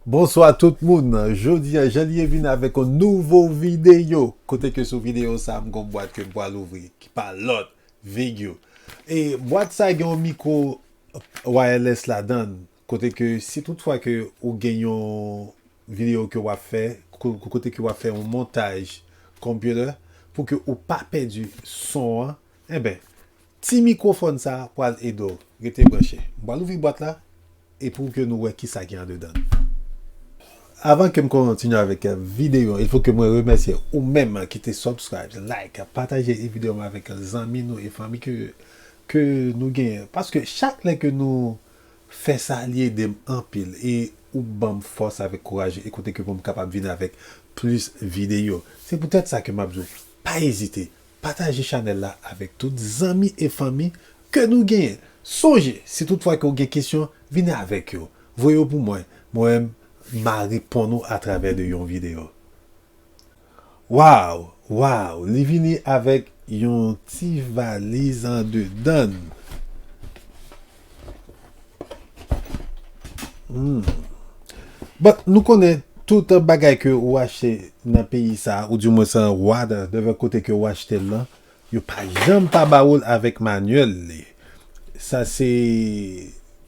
Bonswa tout moun, jodi an jan liye vin avèk yon nouvo videyo Kote ke sou videyo sa m gon bwat ke m pral ouvri ki pa lòt Vigio E bwat sa gen yon mikro wireless ladan l Kote ke si tout fwa ke ou gen yon video ke wap fè kote ke wap fè yon montaj computer pou ke ou pa pèdi son an enben ti mikrofòn sa pwal ede w rete branche m pwal ouvri bwat la e pou ke nou wè kisa gen andedan l avan ke m kontinye avèk video il fo ke mwen remèsye ou menm ki te subscribe like pataje video an avèk zanmi nou e fanmi ke nou genyen paske chak lè ke nou fè sa li edem anpil e ou banm fòs avèk kouraj e kote ke poum kapab vin avèk plis videyo se pou tèt sa ke map di w pa ezite pataje chanèl la avèk tout zanmi e fanmi ke nou genyen sonje si tout fwa ke ou gen kesyon vini avèk yo voye yo pou mwen mwen ma reponn ou atravè de yon videyo. Waw waw li vini avek yon ti valiz andedann humm bon nou konnen tout bagay ke ou achte nan peyi sa ou di mwen sa wad dèvè kote ke ou achte lan yo pa janm pa ba oul avek manyèl li sa se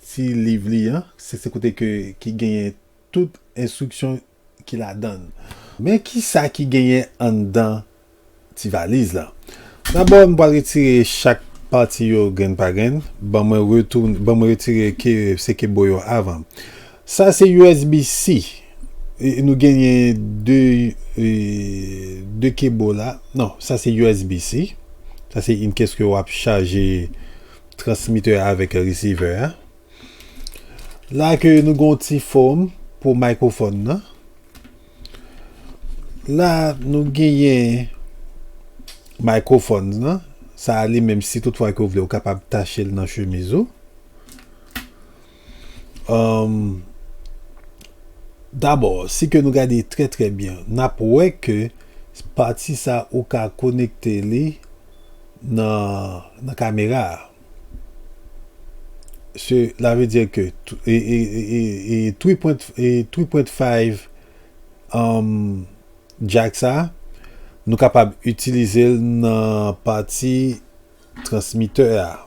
ti liv li an se se kote ke ki genyen tout enstriksyon ki ladan l. Men ki sa ki genyen anndan ti valiz la. Dabò m pral retire chak pati yo grenn pa grenn. Ban mwen retoun, ban mwen retire ke, se ke bo yo avan. Sa se usb C. Nou genyen 2, 2 ke bo la. Non, sa se usb C. Sa se yn kes ke wap chaje transmittè a avèk resevè a. La ke nou gon ti fòm pou microphone nan. La nou genyen microphone nan. Sa a li menm si tout fwa ke ou vle ou kapab tache l nan chemiz ou. Ehm Dabò, si ke nou gade trè trè byen, n ap wè ke pati sa ou ka konekte li nan kamera a. Cela veut dire que 3.5 Jack sa nou kapab itilizel nan pati transmiteur a.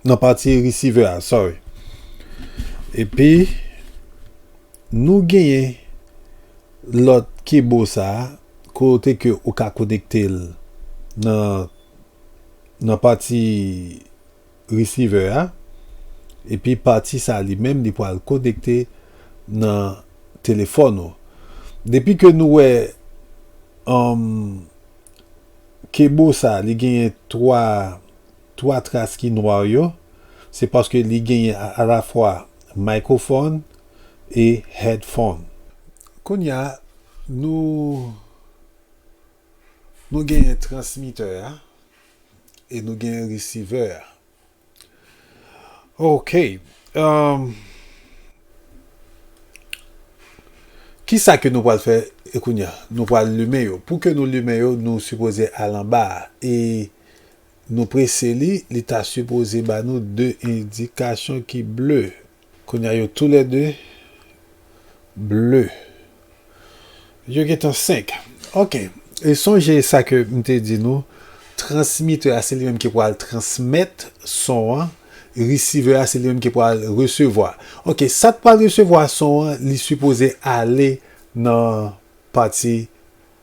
nan pati receiver a sorry epi nou genyen lòt kebo sa kote ke ou ka konekte l nan nan pati receiver a epi pati sa li menm li pwal konekte nan telefòn ou depi ke nou wè anm kebo sa li genyen 3. 3 tras ki nwa yo, se paske li genyen alafwa microphone e headphone. Kounya nou nou genyen transmitter a e nou genyen receiver a. Ok umm kisa ke nou pwal fè kounya? Nou pwal limen yo. Pou ke nou limen yo nou sipoze al anba a e. Nou prese li, li ta sipoze ba nou 2 endikasyon ki ble. Kounya yo tou lè 2 ble. Yo gen tan 5. Ok. E sonje sa ke m te di nou, transmitè a se li menm ki pwal transmèt son an, resivè a se li menm ki pwal resevwa. Ok, sa k pwal resevwa son an, li sipoze ale nan pati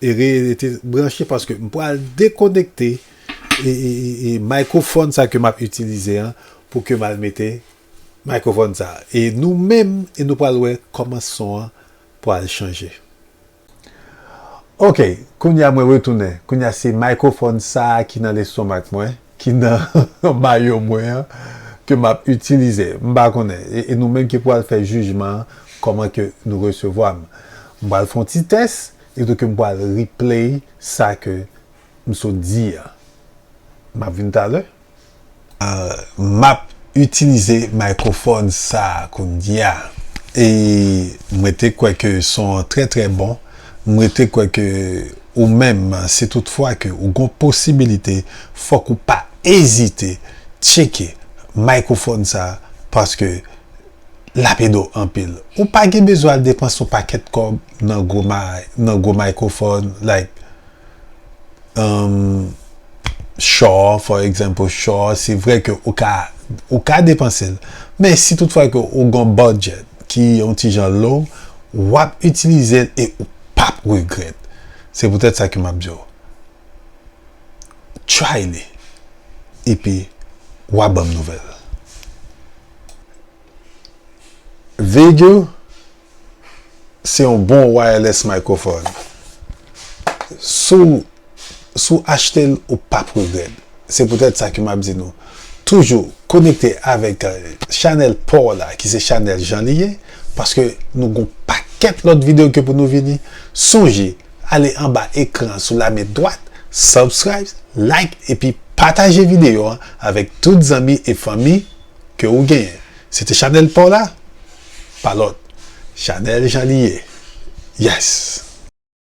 Rete branche paske m pral dekonekte microphone sa ke map itilize an pou ke m al mete microphone sa e nou menm e nou pral wè kòman son an pral chanje ok kounya mwen retounen kounya se microphone sa ki nan lestomak mwen ki nan mayo mwen an ke map itilize m pa konnen e nou menm ki pwal fè jijman an kòman ke nou resevwa m m pwal fon ti tès etou ke m pwal replay sa ke m sot di an map vin talè map itilize microphone sa kounya e m rete kwè ke son an trè trè bon m rete kwè ke. Ou menm, si tout fwa ke ou gon posibilite, fòk ou pa ezite tcheke microphone sa paske lap ede w anpil. Ou pa gen bezwen al depanse yon pakèt kòb nan gwo may, nan gwo microphone like um Shure for example Shure se vre ke ou ka ou ka depanse l men si tout fwa ke ou gon budget ki yon ti jan low wap itilize l e ou pap regrèt se pou tèt sa ke map diw try li epi wa banm nouvèl Vega se yon bon wireless microphone sou Si w achte l ou pap regrèt. Se poutèt sa ke m ap di nou toujou konekte avèk chanèl pa w la ki se chanèl Jan Li Ye paske nou gon pakèt lòt videyo ke pou nou vini sonje ale anba ekran an sou lamen dwat subscribe like epi pataje videyo an avèk tout zanmi e fanmi ke ou genyen se te chanèl pa w la pa lòt chanèl Jan Li Ye yes.